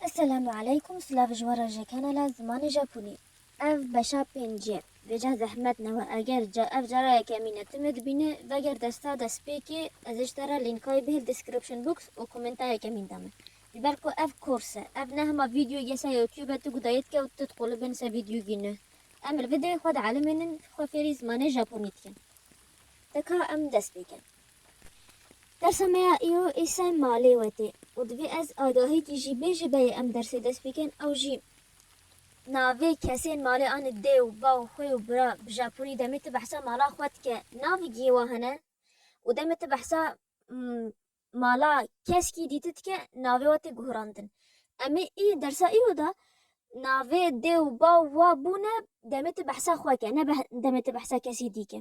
Eselamu aleykum silav ji wan re ji kanala Zimanê Japonî. Ev beşa pêncî ye. Bêca zehmet newe eger ca ev cara yekemîn e timê dibîne veger desta destpêkê ez ê ji te re lînka yê bihêl description box û komenta yekemîn de min. Ji ber ku ev kors e. Ev ne hema vîdyoyê ye ser youtube tu guda yê dike û tu diqolib bên ser vîdyogî ne. Em li videoyê xwe de alimên in xwe fêrî zimanê Japonî dikin. Te ka em dest pê kin. Dersa me ya îro Îsay malê we tê û divê ez agahîkî jî bê ji beyê em dersê dest pê kên ew jî navê kesên malê anî dê û baw xwê û bira bi japonî demê ti behsa mala xwe dike navê gihê wan hene û demê ti behsa mala keskî dîti dike navê we tê guhrandin emê î dersa îro da navê dê û baw wa bûne demê ti behsa xwe ke ne demê ti behsa kesî dî ke.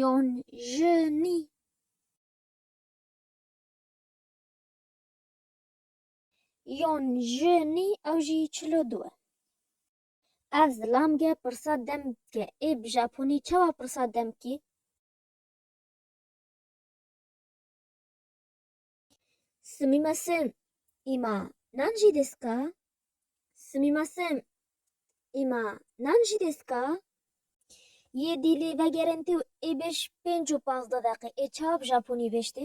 Yon ji nî. Yon ji nî ew jî çil û du e. Ev zilam ge pirsa dem dike. Ê bi japonî çawa pirsa dem kî? Sumimasen, îma nan jî des ka? Sumimasen, îma nan jî des ka? Yê dîlê vegerin tê û ê bêj pênc û pazdeh deqe ê çawa bi japonî bêjtê?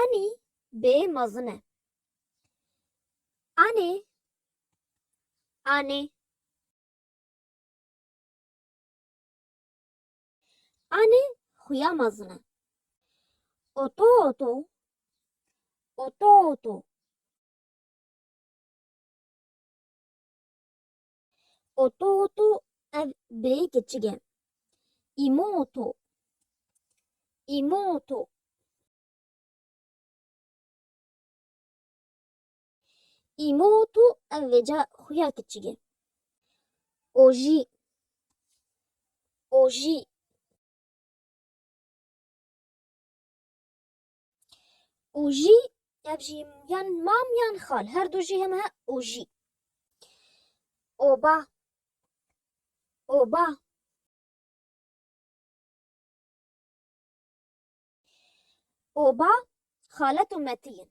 Anî bê mezin e. Anê Anê Anê xuya mezin e. Oto oto Oto oto Oto oto ev birêyî keçik e. Îmo oto. Îmo oto. Îmo oto ev vêca xuya keçik e. Ojî. Ojî. û jî ev jî yan mam yan xal her du jî heme û jî oba oba oba xalet û metiyin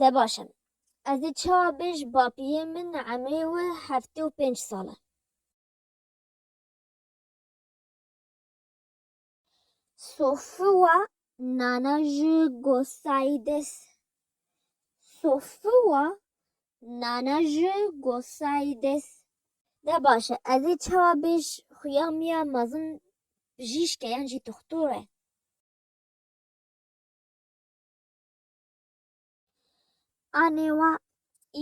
De baş em. Ez ê çawa bê ji bapiyê min emrê wi heftê û pênc sal e. Sofiwa nana ji gosayî des Sofiwa nana ji gosayî des. De baş e. Ez ê çawa bê ji xuya min ya mezin bijîşk e yan jî doxtor e. Anê wa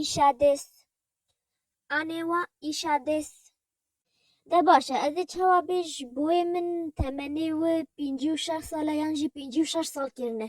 îşa dês. Anê wa îşa dês. De baş e, ez ê çawa bê ji boyê min temenê wi pêncî û şeş sal e yan jî pêncî û şeş sal kirine.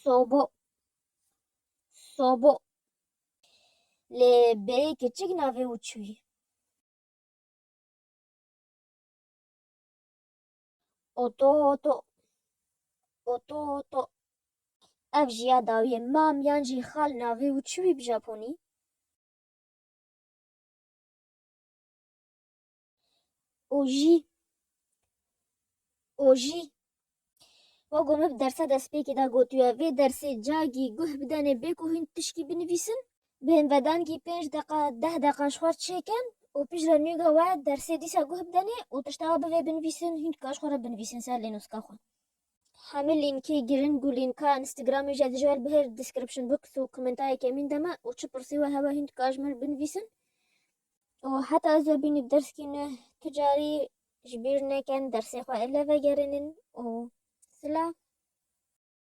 Sobo. Sobo. Lê bêyê keçik navê û çû ye. Oto oto. Oto oto. Ev jî ya dawiyê mam yan jî xal navê û çû bî bi japonî? Ojî Ojî Wa got min bi dersa destpêkê de gotiye vê dersê cagî guh bidenê bê ku hûn tişkî binivîsin bi hin vedangî pênc deqa deh deqa ji xwe çêkin û piştre nûge we dersê dîsa guh bidenê û tişta we bivê binivîsin hûn dika ji xwe re binivîsin ser lênûska xwe. Hemû lînkê girin ku lînka Instagramê jî dije li her description box û komentayê kemîn de me û çi pirsî we hebe hûn dika ji min re binivîsin û heta ez bînî bi derskî nû tu carî ji bîr neken dersê xwe êle vegerînin û silav.